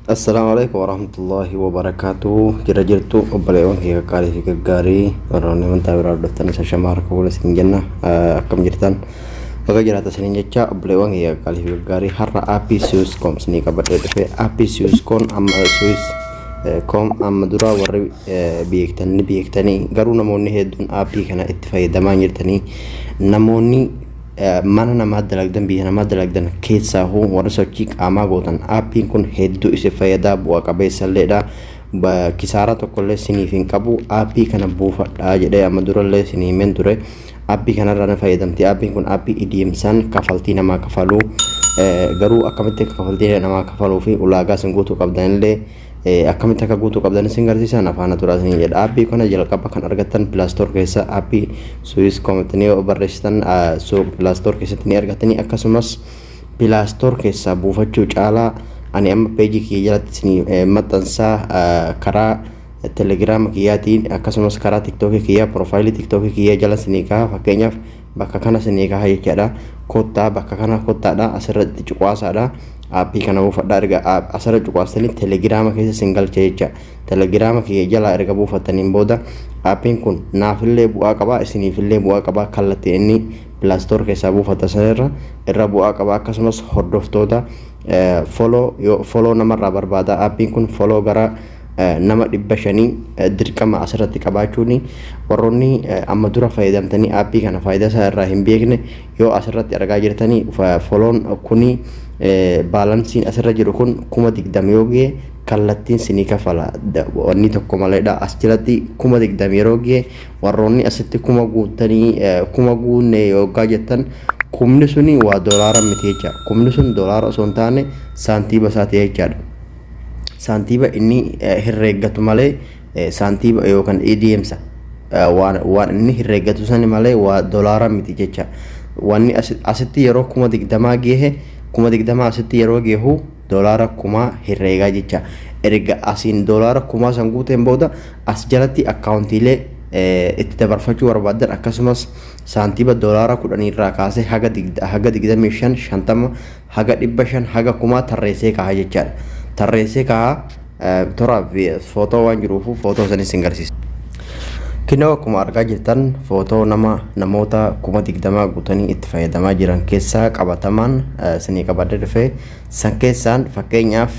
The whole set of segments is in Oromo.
Assalaamu alaikum warahmatullahi wabarakatuh Jira jirtu obboleewwan kee qaqqaarii fi gaggaarii warroonni amantaa biraa hordoftan isa shamaa harka fuula isin jenna Ah, akkam jirtan baga jiraata isiniin jecha obboleewwan kee qaqqaarii fi gaggaarii har'a aappii siwus koom isinii qabadhee dhufe aappii siwus koom amma siwus eh, koom amma dura warri eh, beektan ni beektanii garuu namoonni hedduun aappii kana itti fayyadamaa hin jirtanii namoonni Mana namaa dalagdan biyya namaa dalagdan keessaahuu warri sochii qaamaa gootan aappiin kun hedduu isin fayyadaa bu'a qabeessalleedha. Kisaaraa tokkollee siniif hin qabu aappii kana buufadhaa jedhee amma durallee isin himeen ture. Aappii kanarraa ni fayyadamti. Aappiin kun aappii idiimsaan kafaltii namaa kafaluu garuu akkamitti kafaltii namaa kafaluu fi ulaagaa isin guutuu qabdanillee Akkamitti akka guutuu qabdan isin garsiisaa na faana turaa isin jedha. Aappii kana jalqaba kan argattan pilaastoor keessa aappii Swiss Cometnii yoo barreessitan pilaastoor keessatti ni argattanii akkasumas pilaastoor keessaa buufachuu caalaa ani amma peejii kiyya jalatti isin maxxansaa karaa telegiraama kiyyaatiin akkasumas karaa tiktookii kiyyaa piroofaayilii tiktookii kiyyaa jala isin kaa'a fakkeenyaaf Bakka kana sin eegaa jechaadha. Kottaa bakka kana kottaadha asirratti cuqaasaadha. Aappii kana buufadha erga asirra cuqaastanii telegiraama keessa sin galcha jecha. Telegiraama kiyya jalaa erga buufattaniin booda aappiin kun naafillee bu'aa qaba isiniifillee bu'aa qaba kallattiin inni pilaastoor keessaa buufatta sanirra irra bu'aa qaba akkasumas hordoftoota foloo namarraa barbaada aappiin kun foloo gara nama dhibba shanii dirqama asirratti qabaachuun warroonni amma dura fayyadamtanii aappii kana faayidaa isaa irraa hin beekne yoo asirratti argaa jirtanii foloon kuni baalansiin asirra jiru kun kuma digdama yoo ga'e kallattiin sinii kafala wanni tokko maleedha as jalatti kuma digdama yeroo ga'e warroonni asitti kuma guuttanii kuma guunne yoggaa jettan kumni suni waa doolaara miti jecha kumni sun doolaara osoo hin taane saantiiba isaati jechaadha. saantiiba inni herreeggatu malee saantiiba yookaan ADMsa waan inni herreeggatu sani malee waa dolaara miti jecha. Wanni asitti yeroo kuma digdamaa geehe kuma digdamaa asitti yeroo geehu dolaara kumaa herreegaa jecha. Erga asiin dolaara kumaa san guuteen booda as jalatti akkaawuntiilee itti dabarfachuu barbaaddan akkasumas saantiiba dolaara kudhaniirraa kaasee haga digdamii shan shantama haga 500 haga kumaa tarreessee kaaha jechaadha. Tarreessee kaaha toraaf footoo waan jiruufu footoo sanis sin garsiisa. Kinoo akkuma argaa jirtan footoo nama namoota kuma digdamaa guutanii itti fayyadamaa jiran keessaa qabatamaan sinii qabadee dhufe san keessaan fakkeenyaaf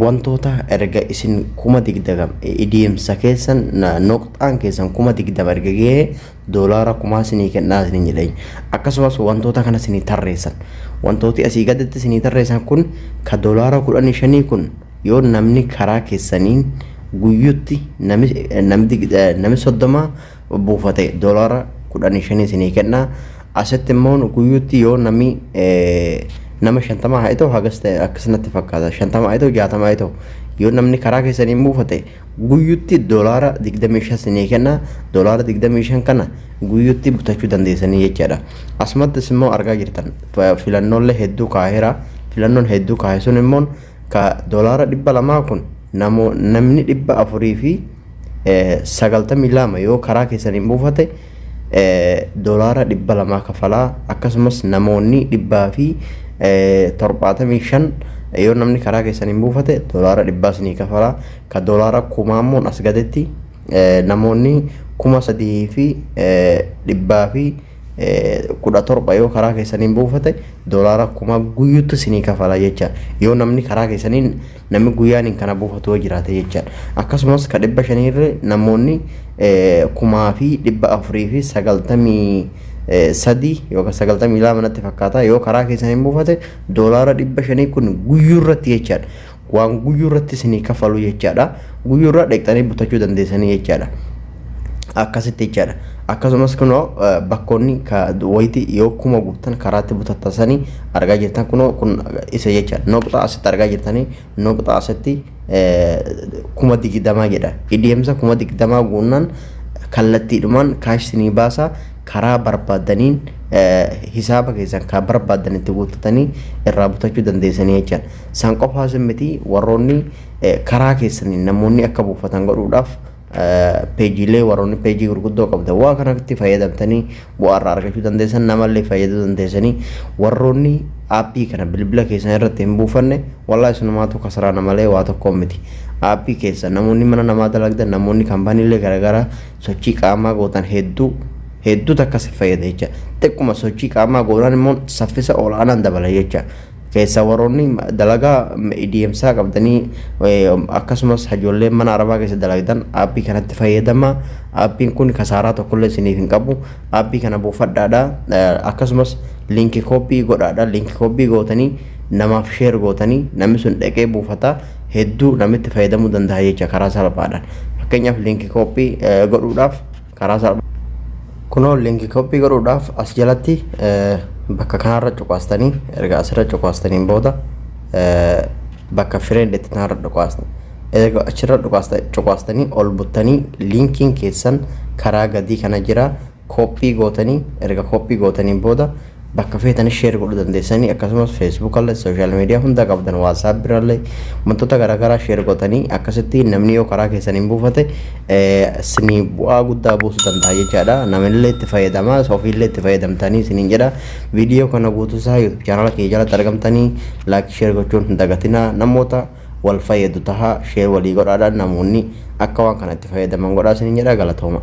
wantoota erga isin kuma digdagam idiimsa keessan noqxaan keessan kuma digdama erga gahee doolaara kumaa sinii kennaa isiniin jedheen akkasumas wantoota kana sinii tarreessan wantooti asii gaditti sinii tarreessan kun ka doolaara kudhanii shanii kun yoo namni karaa keessaniin guyyutti nami namdi nami soddoma buufate doolaara kudhanii shanii sinii kennaa asitti immoo guyyutti yoo nami nama shantama haa ta'u hagas ta'e akkas natti fakkaata shantama haa ta'u jaatama haa ta'u yoo namni karaa keessaniin buufate guyyutti dolaara 25 sinii kenna dolaara 25 kana guyyutti butachuu dandeessanii jechaadha asumattis immoo argaa jirtan filannoollee hedduu kaahira filannoon hedduu kaahe sun immoo ka dolaara 200 kun namni 492 yoo karaa keessaniin buufate doolaara 200 kafalaa akkasumas namoonni 175 yoo namni karaa keessan hin buufate doolaara 100 isinii kafalaa ka doolaara kumaa immoo as gaditti namoonni 3,117 yoo karaa keessan hin buufate doolaara kumaa guyyuutti isinii kafalaa jecha yoo namni karaa keessaniin Namni guyyaaniin kana buufatu yoo jiraate jechaadha. Akkasumas ka dhibba shanii irra namoonni kumaa fi dhibba afurii fi sagaltamii sadii yookaan sagaltamii lama natti fakkaata yoo karaa keessan hin buufate doolaara dhibba shanii kun guyyuu irratti jechaadha. Waan guyyuu irratti isinii kafalu jechaadha. Guyyuu irraa dheeqxanii butachuu dandeessanii jechaadha. akkasitti jechaadha. Akkasumas kunoo bakkoonni wayitii yoo kuma guuttan karaatti butattansanii argaa jirtan kunoo kun isa jechaadha. Noqxaa asitti argaa jirtanii noqxaa asitti kuma digdamaa jedha. Ideemsa kuma digdamaa guunnaan kallattiidhumaan kaash sinii baasaa karaa barbaadaniin hisaaba keessan kan barbaadan itti guuttatanii irraa butachuu dandeessanii jechaadha. San qofaas miti warroonni karaa keessaniin namoonni akka buufatan godhuudhaaf peejiilee warroonni peejii gurguddoo qabdan waa kanatti fayyadamtanii bu'aa irraa argachuu dandeessan namallee fayyaduu dandeessanii warroonni aappii kana bilbila keessan irratti hin buufanne walaa isinumaatu kasaraa namalee waa tokkoon miti aappii keessa namoonni mana namaa dalagdan namoonni kaampaaniilee garaagaraa sochii qaamaa gootan hedduu hedduu takka si fayyada jecha xiqquma sochii qaamaa gootan immoo saffisa ol'aanaan dabala jecha Keessaa warroonni dalagaa deemsaa qabdanii akkasumas ijoolleen mana arabaa keessa dalagdan aappii kanatti fayyadama. Aappiin kun kasaaraa tokkollee isiniif hin qabu. Aappii kana buufadhaadha. Akkasumas liinkii kooppii godhaadha. Liinkii kooppii gootanii namaaf sheer gootanii namni sun dhaqee buufata hedduu namitti fayyadamuu danda'a jecha karaa salphaadhaan. Fakkeenyaaf liinkii kooppii godhuudhaaf karaa salphaa kunoo linki koppii godhuudhaaf as jalatti bakka kanarra cuqaastanii erga asirra cuqaastaniin booda bakka friend itti tanarra cuqaastan erga achirra cuqaastanii ol buttanii linkiin keessan karaa gadii kana jira koppii gootanii erga koppii gootaniin booda Bakka feetanis share godhuu dandeessanii akkasumas Facebook illee social media hunda qabdan WhatsApp irrallee wantoota garaagaraa share gootanii akkasitti namni yoo karaa keessan hin buufate isinii bu'aa guddaa buusuu danda'a jechaadha. Namillee itti fayyadama ofiillee itti fayyadamtanii isiniin jedha. Viidiyoo kana guutuu isaa YouTube chaanala kiyya jalatti argamtanii like share gochuun hin dagatinaa namoota wal fayyadu taha share walii godhaadhaan namoonni akka waan kana itti fayyadaman godhaa isiniin jedha galatooma.